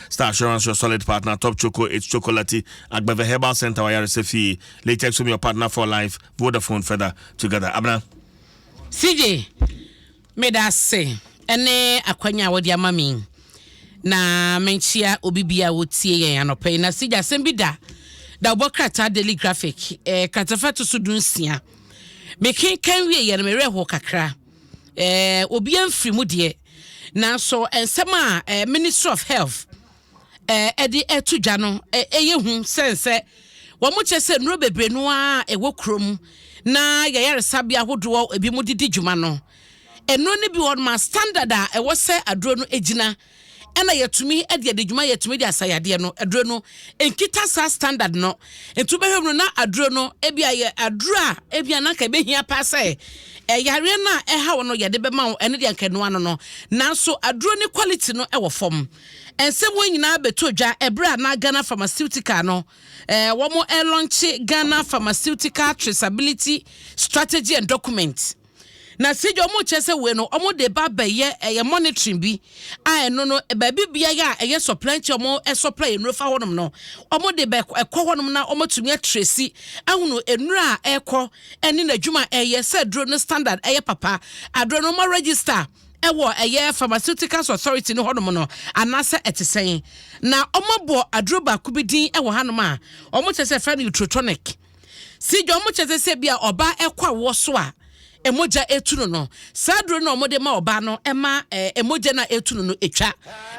Star Assurance your solid partner Top Choco it's chocolatey Agbeve Herbal Center w'ayaresa fie Latex Home your partner for life Vodafone feather together Abena CJ meda ase ɛne akwanya a wɔde ama me na menkyia obi bi a wɔtie yɛn anɔpa yi na CJ asɛm bi da da wobɔ krataa daily graphic eh, kratafa to so dunsia mekenkan wie yɛ no mewerɛ ho kakra eh, obiara mfiri mu deɛ, nanso nsɛm a eh, Ministry of Health eh, de ato dwa no eh, ɛyɛ hu sɛn sɛ wɔn kyerɛ sɛ nnuro bebree no a ɛwɔ kurom na yɛyaresabea ahodoɔ ebi mu de di dwuma no nnuro no bi wɔ ma standard a ɛwɔ sɛ aduro no gyina ɛna yɛtumi de adi dwuma yɛtumi de asa yadeɛ no aduro no nkita saa standard no nti wobɛhwɛ mu no na aduro no ebi ayɛ aduro a ebi ananka ebɛhia paa sɛ ɛyareɛ no a ɛha wo no yɛde bɛma wo ɛne deɛ nka ɛnoa no no nanso aduro ne quality no ɛwɔ fam ɛnsɛm wɔn nyinaa bɛtɔ dwa ɛberɛ a na Ghana pharmaceutical no ɛɛ wɔn ɛlɔnkye Ghana pharmaceutical traceability strategy and document Na sɛ gya wɔn kyɛ sɛ wei no wɔn de ba bɛyɛ ɛyɛ monitoring bi a ɛno no baabi biara a ɛyɛ supply kyɛ wɔn supply nnuro fa hɔnom no wɔn de bɛ ɛkɔ hɔnom na wɔn atumi atresi ahunu nnuro a ɛkɔ ɛne n'adwuma a ɛyɛ sɛ aduro no standard ɛyɛ papa aduro no wɔn register ɛwɔ ɛyɛ pharmaceuticals authority no hɔnom no anaasɛ ɛte sɛn na wɔn abɔ aduro baako bi din ɛwɔ hanom a wɔn kyɛ sɛ fɛ no utrotonic. Si dwa wɔn kyɛ sɛ sɛ bi a ɔbaa ɛkɔ awoɔ so a mogya ɛtu no no, saa duro no a wɔde ma ɔbaa no ɛma ɛɛ mogya no a ɛtu no no ɛtwa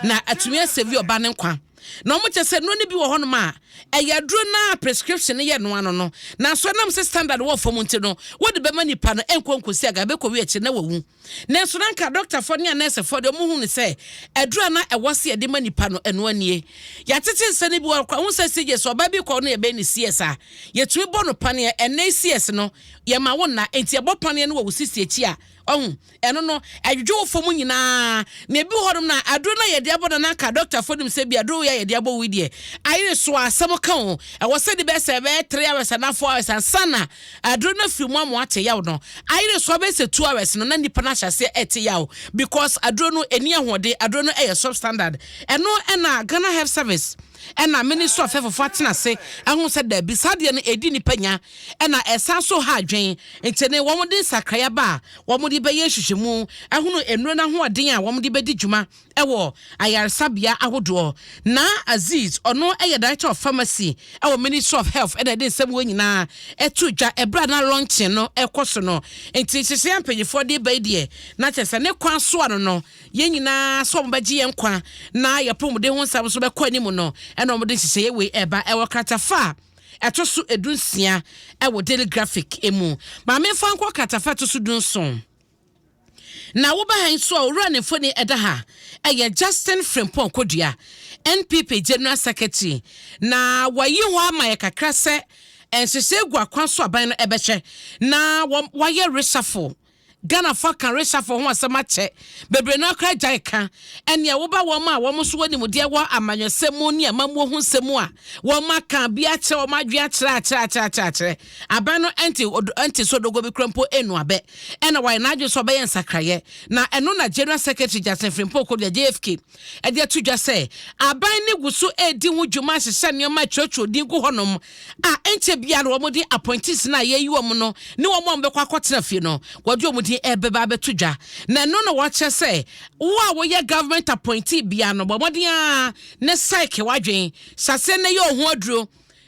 na atumi asɛvi ɔbaa no nkwa. Na wɔn kyɛ sɛ nnuro no bi wɔ hɔnom a ɛyɛ aduro no a prescription no yɛ noa no no, nanso ɛnam sɛ standard wɔ fam nti no, wɔde bɛma nipa no ɛnkɔ nkɔsi aga ɛbɛkɔwie akyire na wawu. Nanso na anka dɔktafoɔ ne anɛɛsefoɔ deɛ wɔhu no sɛ aduro a na ɛwɔ se yɛde ma nipa no, ɛno anie. Yɛatete nsɛ no bi wɔ hɔ koraa. Wohu sɛ CJ, sɛ ɔbaa bi kɔɔ no yɛbɛyɛ no CS a, yɛtumi bɔ no paneɛ. Ɛnnɛ yi CS no, yɛma wo nna. Enti yɛbɔ paneɛ no wɔ wo sisi akyi a, ɔhu, ɛno no, ɛdwodwo wo fam nyinaa. Na ebi wɔ hɔnom no a, aduro no a yɛde abɔ no na anka dɔktafoɔ nim sɛ bi aduro wei a yɛde abɔ wo yi deɛ, ayere so a, asɛm ka o, ɛwɔ sɛ ɛde bɛyɛ sɛ ɛbɛyɛ three hours anaa four hours ansa na aduru no afiri mu ama ate yaw no ayere so abɛyɛ sɛ two hours no na nnipa no ahyɛ aseɛ ɛte yaw because aduro no ɛni ahoɔden aduro no ɛyɛ substandard ɛno ɛna Ghana Health Service ɛna Ministry of Health fo atena ase ahu sɛ daabi saa deɛ no ɛdi nnipa nya ɛna ɛsan so ha adwen nti ne wɔn de nsakrae aba a wɔn de bɛyɛ nhwehwɛmu ahunu nnuro no ahoɔden a wɔn de bɛdi dwuma wɔ ayaresabea ahodoɔ. Na Aziz, ɔno yɛ Director of Pharmacy wɔ Ministry of Health na ɛde nsɛm wei nyinaa too dwa berɛ a na launching no rekɔ so no. Nti nhyehyɛeɛ a mpanimfoɔ de reba yi deɛ, na kyerɛ sɛ ne kwan so ano no, yɛn nyinaa sɛ wɔbɛgye yɛn nkwa na yɛn apɔmuden ho nsɛm nso bɛkɔ anim no na wɔde nhyehyɛeɛ wei reba. Ɛwɔ kratafa a ɛto so du nsia wɔ Daily Graphic mu. Ma memfa nkɔ kratafa a ɛto so du nson. Na woba ha yi nso a, owura ne mfoni ɛda ha. Ɛyɛ Justin Frimpong Kodua, NPP General Secretary. Na wɔayi hɔ ama yɛ kakra sɛ nhyehyɛe gu akwan so aban no ɛbɛhwɛ na wɔayɛ reshuffle. Ghanafoɔ aka reshuffle ho asɛm akyɛ. Bebree no ara koraa gyae ka. Ɛnneɛ woba wɔn a wɔn nso wɔ nimdeɛ wɔ amanyɔsɛm mu ne amammuo ho nsɛm mu a, wɔaka biribi akyerɛ, wɔn adwene akyerɛ akyerɛ akyerɛ akyerɛ akyerɛ. Abɛ no nte odo nte so dogo bi kora mpo nnu abɛ. Ɛna wayɛ n'adwene sɛ ɔbɛyɛ nsakraeɛ. Na ɛno na General Secretary Justin Frimpong Kodua, JFK, de ato dwa sɛ aban no gu so redi ho dwuma ahyehyɛ nneɛma retwerɛtwerɛ din gu hɔnom a ɛnkyɛ biara na wɔn de appointees no a yɛayi wɔn no ne wɔn a wɔbɛkɔ akɔtena fie no wɔde wɔn din rebɛba abɛto dwa. Na ɛno na wɔkyerɛ sɛ wo a woyɛ government appointee biara no bɔ mmɔden ara na psyche w'adwene, hyɛ aseɛ na yɛ wo ho aduro.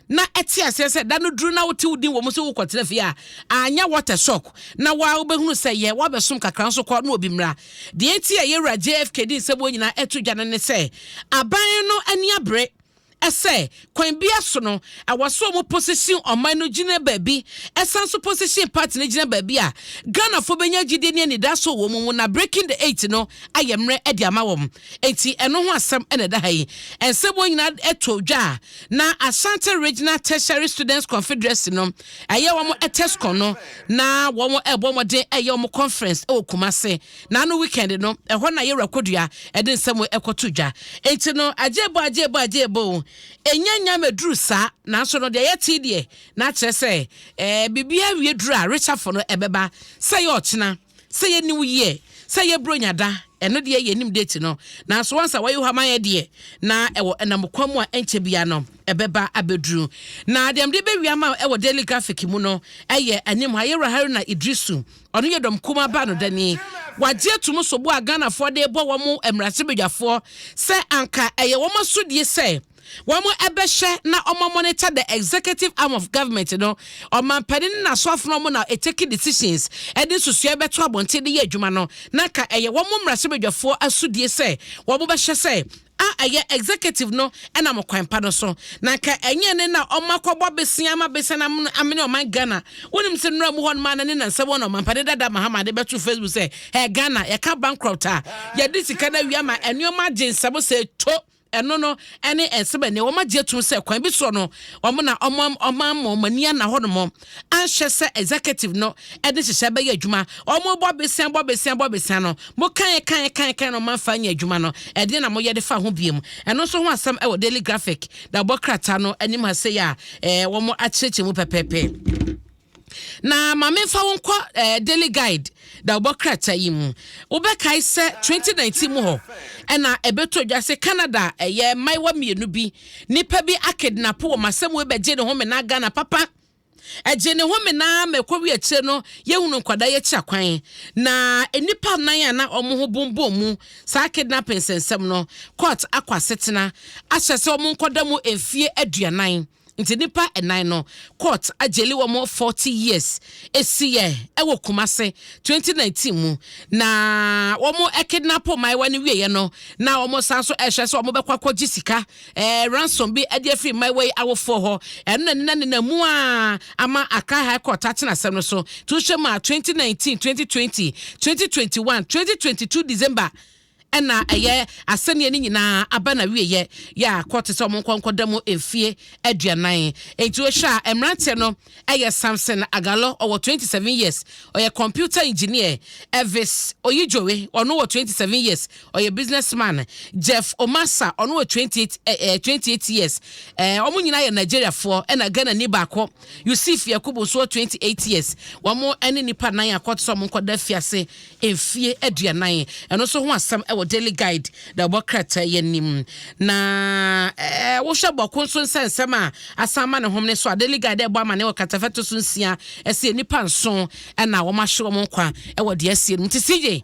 na ɛte aseɛ sɛ da no duru na wote wo din wɔ mu sɛ wokɔtena fie a, anyɛ water shock na waa wobɛhunu sɛ yɛ woabɛsom kakra nso kɔ na obi mmra. Deɛ enti a yɛwura JFK de nsɛm wɔ nyinaa ɛto dwa no ne sɛ aban no ani abere sɛ kwan biara so no ɛwɔ sɛ wɔn position ɔman no gyina baabi ɛsan nso position party no gyina baabi a Ghanafoɔ bɛnya gyidie ne anidaso wɔ wɔn mu na breaking the eight no ayɛ mmerɛ de ama wɔn. Enti ɛno ho asɛm na ɛda ha yi. Nsɛm wɔn nyinaa to dwa a na Ashanti Regional Tertiary Students Confederacy no ɛyɛ wɔn Tescon no na wɔn ɛbɔ mmɔden ɛyɛ wɔn conference ɛwɔ Kumase na ano weekend no ɛhɔ na Yewura Kodua ɛde nsɛm ɛkɔto dwa. Enti no agyebo agyebo agyebo ɛnya nya mɛduru saa nanso no deɛ yɛte deɛ na akyerɛ sɛ ɛɛ biribi awie duru a resafo no ɛbɛba sɛ yɛ ɔkyena. Sɛ yɛ new year sɛ yɛ bronya da ɛno deɛ yɛ nim date no nanso wɔn sɛ wɔyɛ hama yɛ deɛ na ɛwɔ ɛnam kwan mu a ɛnkyɛ bia no ɛbɛba abɛduru na deɛ mde bɛwia ma ɛwɔ daily graphic mu no ɛyɛ anim ha yɛwura Haruna Idrisu ɔno yɛ dɔm kuma ba no dani wagye atum so bo a Ghanafoɔ de bɔ wɔn mmarahyɛbadwafoɔ sɛ anka ɛyɛ wɔn asodie sɛ Wɔbɛhwɛ na wɔn monitor the executive arm of government no, ɔmanpanin ne n'asoafo no wɔn na take decisions de nsusuɛ bɛto abɔnten de yɛ adwuma no, na ka ɛyɛ wɔn mmarahyɛbadwafoɔ asodie sɛ wɔn bɛhwɛ sɛ a ɛyɛ executive no nam ɔkwan pa no so, na nka ɛnyɛ ne na wɔn akɔbɔ abesea ama abesea no amene ɔman Ghana, wonim sɛ nnura mu hɔ nom a na ne nansa wɔn na ɔmanpanin dada Mahama de bɛto Facebook sɛ hɛ Ghana yɛka bankrupt a yɛde sika no awia ma nnoɔma agye nsɛm sɛ to. Ɛno no ne nsɛm a ɛnnɛ wɔagye atum sɛ kwan bi soɔ no wɔn na wɔama wɔn ani ana hɔnom anhwɛ sɛ executive no de nhyehyɛe bɛyɛ adwuma. Wɔbɔ besia bɔ besia bɔ besia no, mo kan kan kan kan no moamfa anyɛ adwuma no, ɛdeɛn na moyɛ de fa ho biom? Ɛno nso ho asɛm wɔ Daily Graphic na wɔbɔ krataa no anim ha sei a wɔakyerɛkyerɛ mu pɛpɛɛpɛ. Na ma memfa wo nkɔ eh, Daily Guide da wobɔ krataa yi mu. Wobɛkae sɛ 2019 mu hɔ ɛna ɛbɛtɔ dwa sɛ Canada ɛyɛ mmaayewa mmienu bi nipa bi akednapo wɔ masɛm wei bɛgye ne ho menaa Ghana papa ɛgye ne ho menaa ma ɛkɔwi akyire no yɛhunu nkwadaa yɛkyi akwan na nnipa nan a na wɔn ho bombom mu saa kidnapping sɛnsɛm no court akɔ asetena ahyɛ sɛ wɔn nkɔda mu mfie aduanan Nti nnipa nnan no court agyeli wɔn forty years. Esiyɛ ɛwɔ Kumase twenty nineteen mu na wɔn kidnap mmaayewa no wieɛ no na wɔn san so ɛhwɛ sɛ wɔn bɛkɔ akɔgye sika ɛɛ ransom bi ɛde afiri mmaayewa yi awofoɔ hɔ. Ɛno na nina nina mu a ama Accra High Court atena asɛm no so. To hyɛ mu a twenty nineteen, twenty twenty, twenty twenty one, twenty twenty two December. Ɛna ɛyɛ asɛnniɛ no nyinaa aba n'awieɛ yɛ a kɔ te sɛ wɔn nkɔ nkɔda mu mfeɛ aduanan. Enti wohwɛ a mmeranteɛ no yɛ Samson Agallo, ɔwɔ twenty seven years, ɔyɛ computer engineer, Elvis Oyijoe, ɔno wɔ twenty seven years, ɔyɛ business man, Jeff Omasa, ɔno wɔ twenty eight eh, eh, twenty eight years, eh, wɔn nyinaa yɛ Nigeriafoɔ, ɛna Ghanani baako, Yusuf Yakubu nso wɔ twenty eight years. Wɔn ne nnipa nan a kɔ te sɛ wɔn nkɔda afiase mfie aduanan. Ɛno nso ho asɛm wɔ Daily Guide na ɛbɔ krataa yi anim. Na ɛɛ wohwɛ bɔko nso nsɛnsɛm a asan ma ne hom ne so a Daily Guide ɛbɔ ama ne wɔ katafɛto so nsia ɛsɛ nnipa nson ɛna wɔn ahwe wɔn nkwa ɛwɔ deɛ asie no nti CJ